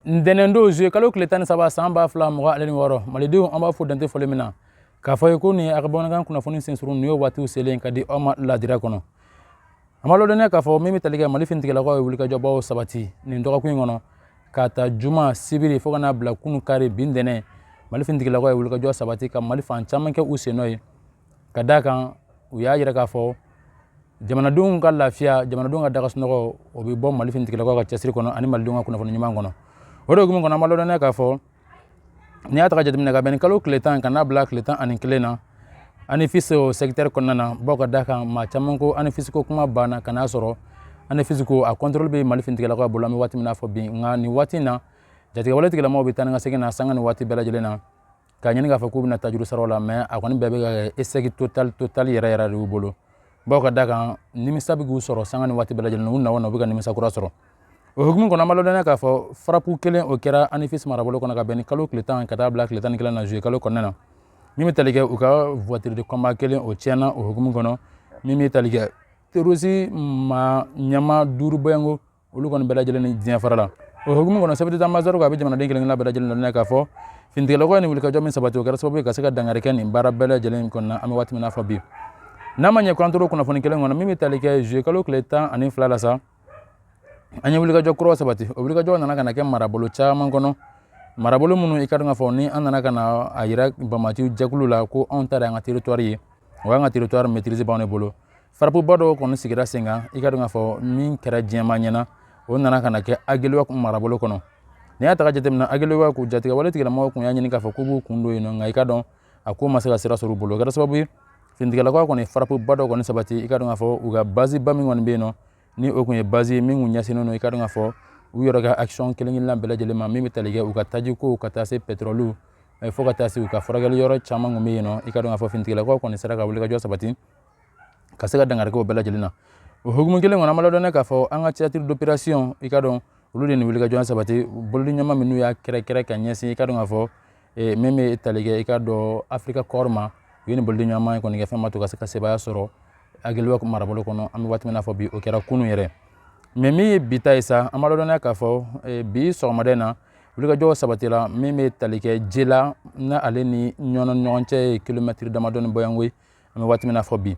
ntɛnɛndon zuye kalo tile tan ni saba san ba fila mugan ale ni wɔɔrɔ malidenw an b'aw fo dantɛ foli min na k'a f'aw ye ko nin ye aw ka bamanankan kunnafoni sensurun nin y'o waatiw selen ka di aw ma ladira kɔnɔ an b'a lɔdɔnniya k'a fɔ min bɛ tali kɛ mali finitigilakaw ye wulikajɔbaw sabati nin dɔgɔkun in kɔnɔ k'a ta juma sibiri fo ka n'a bila kunu kari bi ntɛnɛn mali finitigilakaw ye wulikajɔ sabati ka mali fan caman kɛ u sennɔ ye ka d'a kan u y'a yira k'a fɔ jamanadenw ka lafiya jamanadenw ka da ka sunɔgɔ o bɛ bɔ mali finitigilamɔgɔw ka cɛsiri kɔnɔ ani malidenw ka kunnafoni ɲuman kɔnɔ o de hukumu kɔnɔ an b'a lɔdɔnniya k'a fɔ n'i y'a ta ka jateminɛ ka bɛn nin kalo tile tan ka n'a bila tile tan ani kelen na anifisi o sɛkitɛri kɔnɔna na bawo ka da kan maa caman ko anifisi ko kuma banna ka n'a sɔrɔ anifisi ko a kɔntɔrɔli bɛ mali finitigilamɔgɔw bolo an bɛ waati min na fɔ bi nka nin waati in na jatigɛwale tigilamɔgɔw bɛ taa ni ka segin na sanga ni waati bɛɛ lajɛlen na k'a ɲini k'a fɔ k'u bɛna tajuru sara la mɛ a kɔni bɛɛ bɛ ka kɛ esɛki totali totali yɛrɛ yɛrɛ de y'u bolo bawo ka da kan nimisa bɛ k'u sɔrɔ sanga ni waati bɛɛ lajɛlen u na wo na u bɛ ka nimisa kura sɔrɔ o hukumu kɔnɔ an b'a lɔdɔnniya k'a fɔ farapu kelen o kɛra anifisi marabolo kɔnɔ ka bɛn nin kalo tile tan ka t'a bila tile tan ni kelen na zuye kalo kɔnɔna na min bɛ tali kɛ u ka voiture de combat kelen o tiɲɛna o hukumu kɔnɔ min bɛ tali kɛ terorisi ma ɲɛmaa duuru bɔɲɔgɔnko olu kɔni bɛɛ lajɛlen ni diɲɛ farala o hukumu kɔnɔ chef d'état-major ko a bɛ jamanaden kelen kelen bɛɛ lajɛlen na k'a fɔ finitigilamɔgɔ ye nin wulikajɔ min sabati o kɛra sababu ye ka se ka dankari kɛ nin baara bɛɛ lajɛlen kɔnɔna an bɛ waati min na fɔ bi n'a ma ɲɛ k'an tor'o kunnafoni kelen kɔnɔ min bɛ tali kɛ zuye kalo tile tan ani fila la sa an ye wulikajɔ kuraw sabati o wulikajɔ nana ka na kɛ marabolo caman kɔnɔ marabolo minnu i ka dɔn k'a fɔ ni an nana ka na a yira banbaanciw jɛkulu la ko anw ta de y'an ka teritwari ye wa an ka teritwari maîtrise b'anw de bolo farapuba dɔw kɔni sigira sen kan i ka dɔn k'a fɔ min kɛra jama ɲɛna o nana ka na kɛ agɛlɔku marabolo kɔnɔ n'i y'a ta ka jateminɛ agɛlɔku jatigɛwale tigilamɔgɔw kun y'a ɲini k'a fɔ k'u b'u kun don yen nɔ nka i ka dɔn a ko ma se ka sira sɔrɔ u bolo o kɛra sababu ye finitigilamɔgɔ kɔni farapuba dɔw kɔni sabati i ka dɔn k'a fɔ u ka baziba min kɔni bɛ yen nɔ ni o kun ye bazi ye min kun ɲɛsinnen don i ka dɔn k'a fɔ u yɛrɛ ka action kelen kelenna bɛɛ lajɛlen ma min bɛ tali kɛ u ka taji kow ka taa se pɛtɛrɔliw fo ka taa se u ka furakɛli yɔrɔ caman kun bɛ yen nɔ i ka dɔn k'a fɔ finitigilamɔgɔ kɔni sera ka wulikajɔ sabati ka se ka dankari k'o bɛɛ lajɛlen na o hukumu kelen kɔnɔ an b'a lɔdɔnniya k'a fɔ an ka théâtre d'opération i ka dɔn olu de nin wulikajɔ sabati bolodiɲɔgɔnma minnu y'a kɛrɛkɛrɛ ka ɲɛsin i ka dɔn k'a fɔ e, min bɛ tali kɛ i ka dɔn afirika kɔɔri ma u ye nin bolodiɲɔgɔnma in kɔni kɛ fɛn ma to ka se ka sebaaya sɔrɔ agɛlɔku marabolo kɔnɔ an bɛ waati min n'a fɔ bi o kɛra kunu yɛrɛ mɛ min ye bi ta ye sa an b'a lɔdɔnniya k'a fɔ e, bi sɔgɔmada in na wulikajɔ sabatira min bɛ tali kɛ jela na ale ni ɲɔnɔ ɲɔgɔn cɛ ye kilomɛtiri damadɔni bɔɲɔgɔnko ye an bɛ waati min na fɔ bi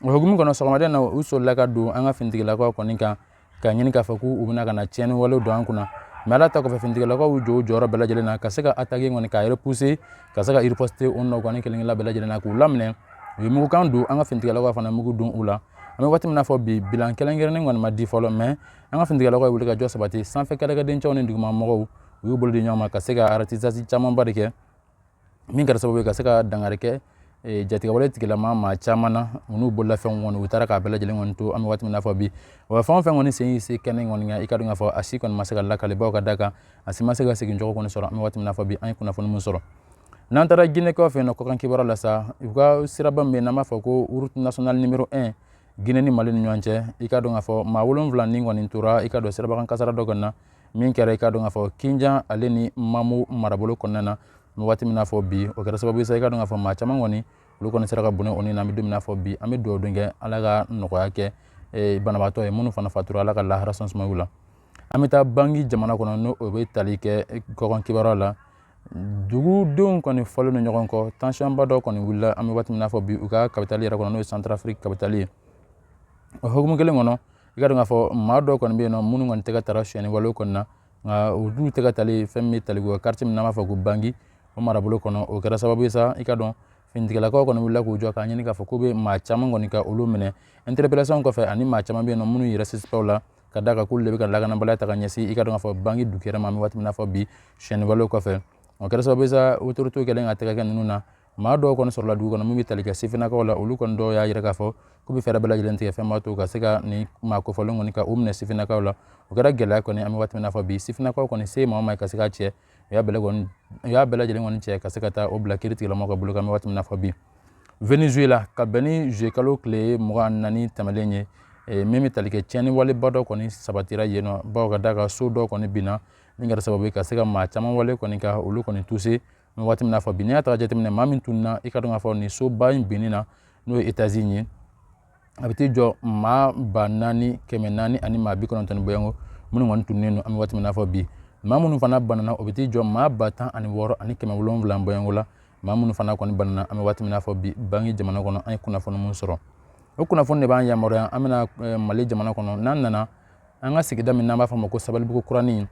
o hukumu kɔnɔ sɔgɔmada in na u solila ka don an ka finitigilakaw kɔni kan k'a ɲini k'a fɔ k'u bɛna ka na tiɲɛni walew don an kunna mɛ ala ta kɔfɛ finitigilakaw y'u jɔ u jɔyɔrɔ bɛɛ lajɛlen na ka se ka ataki kɔni k'a erepuse ka se ka iripɔsite o nɔ kɔni kelen kelen bɛɛ lajɛlen na k'u laminɛ u ye mugukan don an ka finitigilakaw fana mugu don u la an bɛ waati min na fɔ bi bilan kɛrɛnkɛrɛnnen kɔni ma di fɔlɔ mɛ an ka finitigilakaw ye wuli ka jɔ sabati sanfɛ kɛlɛkɛdencɛw ni dugumamɔgɔw u y'u bolo di ɲɔgɔn ma ka se ka aratisazi camanba de kɛ min kɛra sababu ka se ka dankari kɛ eh, jatigɛwale tigilamaa caman na n'u bololafɛnw kɔni u taara k'a bɛɛ lajɛlen kɔni to an bɛ waati min na fɔ bi wa fɛn o fɛn kɔni sen se kɛnɛ kɔni kan i ka dɔn k'a fɔ a si kɔni ma se ka lakali bawo ka da kan a si ma se ka segin cogo kɔni sɔrɔ an bɛ waati min na fɔ bi an ye kunnafoni min sɔrɔ n'an taara ginekaw fɛ yen nɔ kɔkan kibaruya la sa u ka siraba min bɛ yen n'an b'a fɔ ko route nationale numéro 1 Guinée ni Mali ni ɲɔgɔn cɛ i ka dɔn k'a fɔ maa wolonwula ni kɔni tora i ka dɔn sirabakan kasara dɔ kɔni na min kɛra i ka dɔn k'a fɔ kinja ale ni mamu marabolo kɔnɔna na an bɛ waati min na fɔ bi o kɛra sababu sa i ka dɔn k'a fɔ maa caman kɔni olu kɔni sera ka bɔnɛ u ni na an bɛ don min na fɔ bi an bɛ dugawu kɛ ala ka nɔgɔya kɛ e, banabaatɔw ye minnu fana fatura ala ka lahara so sumaya u la an bɛ taa bangi jamana kɔnɔ n'o o bɛ tali kɛ e, kɔkan kibaruya la dugudenw kɔni fɔlen don ɲɔgɔn kɔ tansiyɔnba dɔ kɔni wulila an bɛ waati min na fɔ bi u ka kapitali yɛrɛ kɔnɔ n'o ye santarafiriki kapitali ye o hukumu kelen kɔnɔ i ka dɔn k'a fɔ maa dɔw kɔni bɛ yen nɔ minnu kɔni tɛgɛ taara sonyɛni wale kɔni na nka u dun tɛgɛ tali fɛn bɛ tali kɛ kartiye min n'an b'a fɔ ko bangi o marabolo kɔnɔ o kɛra sababu ye sa i ka dɔn finitigilakaw kɔni wulila k'u jɔ k'a ɲini k'a fɔ k'u bɛ maa caman kɔni ka olu minɛ interpellation kɔfɛ ani maa caman bɛ yen nɔ minnu yɛrɛ sisipaw la ka da kan k'olu de bɛ ka lakanabaliya ta ka ɲɛsin i ka dɔn k'a fɔ bangi dugukɛrɛ ma an bɛ waati min na fɔ bi sonyɛni wale kɔfɛ o kɛra sababu ye sa autoritew kɛlen ka tɛgɛ kɛ ninnu na maa dɔw kɔni sɔrɔla dugu kɔnɔ min bɛ tali kɛ sifinnakaw la olu kɔni dɔw y'a jira k'a fɔ k'u bɛ fɛɛrɛ bɛɛ lajɛlen tigɛ fɛn b'a to ka se ka nin maa kofɔlen kɔni ka u minɛ sifinnakaw la o kɛra gɛlɛya kɔni an bɛ waati min na fɔ bi sifinnakaw kɔni se maa o maa ka se k'a cɛ u y'a bɛɛ lajɛlen kɔni cɛ ka se ka taa o bila kiiritigɛlamɔgɔw ka bolo kan an bɛ waati min na fɔ bi venezuela ka bɛn ni zuwɛnkalo tile mugan ni naani tɛmɛlen ye eh, min bɛ tali kɛ tiɲɛni waleba dɔ kɔni sabatira yen nɔ bawo ka da kan so dɔ kɔni binna min kɛra sababu ye ka se ka maa caman wale kɔni ka olu kɔni tuse an bɛ waati min na fɔ bi n'i y'a ta k'a jateminɛ maa min tununa i ka dɔn k'a fɔ nin soba in binni na n'o ye etazi ye a bɛ t'i jɔ maa ba naani kɛmɛ naani ani maa bi kɔnɔntɔn ni bɔɲɔgɔnko minnu kɔni tununnen don an bɛ waati min na fɔ bi maa minnu fana banana o bɛ t'i jɔ maa ba tan ani wɔɔrɔ ani kɛmɛ wolonwula bɔɲɔgɔnko la maa minnu fana kɔni banana an bɛ waati min na fɔ bi bangi jamana kɔnɔ an ye kunnafoni minnu sɔrɔ o kunnafoni de b'an yamaruya an bɛna eh, mali jamana kɔnɔ n'an nana an ka sigida min n'an b'a fɔ ma ko sabalibugu kuranin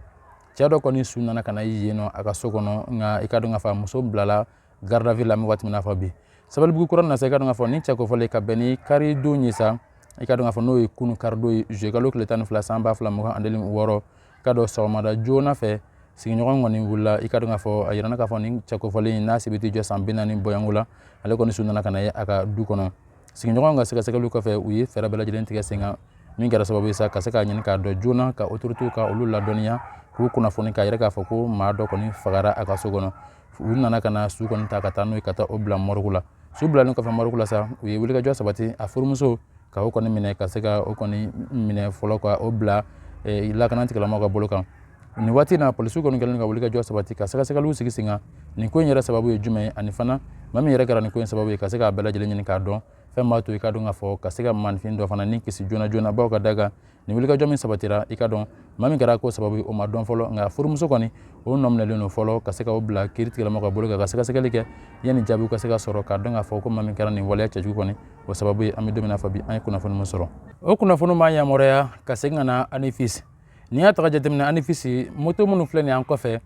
cɛ dɔ kɔni su nana ka na ye yen nɔ a ka so kɔnɔ nka i ka dɔn k'a fɔ muso bilala garde à vue la an bɛ waati min na fɔ bi sabalibugu kuranin na sa i ka dɔn k'a fɔ nin cɛ kofɔlen ka bɛn ni karidon ye sa i ka dɔn k'a fɔ n'o ye kunu karidon ye juillet kalo tile tan ni fila san ba fila mugan ani wɔɔrɔ i ka dɔn sɔgɔmada joona fɛ sigiɲɔgɔn kɔni wulila i ka dɔn k'a fɔ a yirana k'a fɔ nin cɛ kofɔlen n'a si bɛ t'i jɔ san bi naani bɔɲɔgɔnko la ale kɔni su nana ka na ye a ka du kɔnɔ sigiɲɔgɔn ka sɛgɛsɛgɛliw kɔfɛ u ye fɛɛrɛ bɛɛ lajɛlen tigɛ sen kan min kɛra sababu ye sa ka se k'a ɲini k'a dɔn joona ka autorités ka olu ladɔnniya k'u kunnafoni k'a yira k'a fɔ ko maa dɔ kɔni fagara a ka so kɔnɔ u nana ka na su kɔni ta ka taa n'o ye ka taa o bila mɔrigu la su bilalen kɔfɛ mɔrigu la sa u ye wulikajɔ sabati a furumuso ka o kɔni minɛ ka se ka o kɔni minɛ fɔlɔ ka o bila eh, lakana tigilamɔgɔw ka bolo kan nin waati na polisiw kɔni kɛlen ka wulikajɔ sabati ka sɛgɛsɛgɛliw sigi sen kan nin ko in yɛrɛ sababu ye jumɛn ye ani fana maa min yɛrɛ kɛra nin ko in sababu ye ka se k'a bɛɛ lajɛlen ɲini k'a dɔn fɛn b'a to i ka dɔn k'a fɔ ka se ka maanifin dɔ fana ni kisi joona joona baw ka da kan nin wulikajɔ min sabatira i ka dɔn maa min kɛra ko sababu ye o ma dɔn fɔlɔ nka furumuso kɔni o nɔ minɛlen don fɔlɔ ka se ka o bila kiiri tigilamɔgɔw ka bolo kan ka sɛgɛsɛgɛli kɛ yanni jaabiw ka se ka sɔrɔ k'a dɔn k'a fɔ ko maa min kɛra nin waleya cɛjugu kɔni o sababu ye an bɛ don min na fɔ bi an ye kunnafoni min sɔrɔ o kunnafoni b'an yamaruya ka segin ka na anifisi n'i y'a ta jateminɛ anifisi moto minnu filɛ nin an kɔfɛ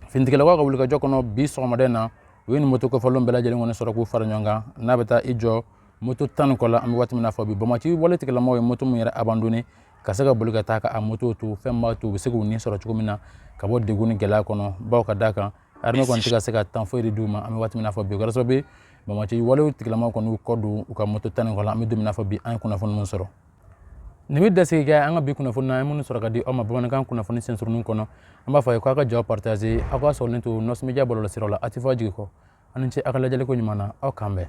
finitigilakaw ka wulikajɔ kɔnɔ bi sɔgɔmada in na u ye nin moto kofɔlen bɛɛ lajɛlen kɔni sɔrɔ k'u fara ɲɔgɔn kan n'a bɛ taa i jɔ moto tan ni kɔ la an bɛ waati min na fɔ bi banbaanci wale tigilamɔgɔw ye moto min yɛrɛ abandonné ka se ka boli ka taa ka moto to fɛn b'a to u bɛ se k'u ni sɔrɔ cogo min na ka bɔ degun ni gɛlɛya kɔnɔ baw ka d'a kan armée kɔni tɛ ka se ka temps foyi de d'u ma an bɛ waati min na fɔ bi o kɛra sababu ye banbaanci walew tigilamɔgɔw kɔni y'u kɔ don u ka moto tan ni kɔ la an bɛ don min na fɔ bi an ye kunnafoni min sɔrɔ nin bɛ dasigi kɛ an ka bi kunnafoni na an ye minnu sɔrɔ ka di aw ma bamanankan kunnafoni sensurunnin kɔnɔ an b'a fɔ a ye k'aw ka ja partager aw k'a sɔrɔlen to nɔs media bɔlɔlɔsiraw la a tɛ fɔ a jigi kɔ aw ni ce aw ka lajɛliko ɲuman na aw k'an bɛn